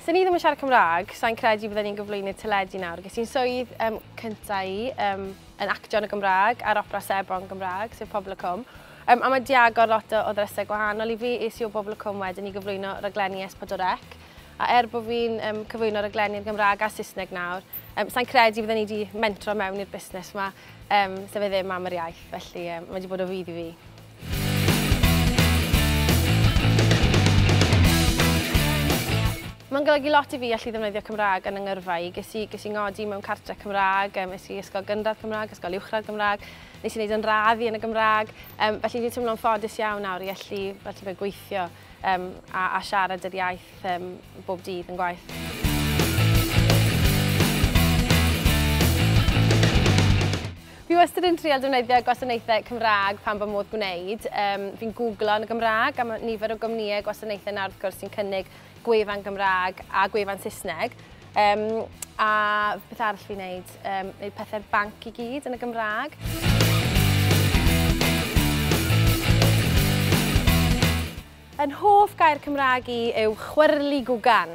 Sa ni ddim yn siarad Cymraeg, sa'n credu bydden ni'n gyflwynydd teledu nawr. Ges i'n swydd um, cyntaf i um, yn actio yn y Gymraeg a'r opera sebon Gymraeg, sef Pobl y Cwm. Um, a mae di agor lot o, o ddrysau gwahanol i fi, es i o Bobl y Cwm wedyn i gyflwyno raglenni S4C. A er bod fi'n um, cyflwyno raglenni yn Gymraeg a Saesneg nawr, um, sa'n credu byddwn ni wedi mentro mewn i'r busnes yma, um, sef e ddim am yr iaith, felly um, mae wedi bod o fydd i fi. Mae'n golygu lot i fi allu ddefnyddio Cymraeg yn yngyrfa i. Ges i, ges i ngodi mewn cartre Cymraeg, um, es i ysgol gynradd Cymraeg, ysgol uwchradd Gymraeg, nes i wneud yn radd i yn y Gymraeg. Um, felly dwi'n teimlo'n ffodus iawn nawr i allu, allu fe gweithio. um, a, a siarad yr iaith um, bob dydd yn gwaith. Fi wastad yn trial defnyddio gwasanaethau Cymraeg pan fy modd gwneud. Um, fi'n googlo yn y Gymraeg am nifer o gwmnïau gwasanaethau nawr wrth gwrs sy'n cynnig gwefan Gymraeg a gwefan Saesneg. Um, a beth arall fi'n neud? Um, neud pethau'r banc i gyd yn y Gymraeg. Yn hoff gair Cymraeg i yw chwyrlu gwgan.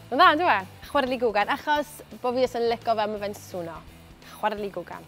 Yn dda, dwi e? Chwyrlu gwgan, achos bod fi os yn licio fe, mae fe'n swno. Chwyrlu gwgan.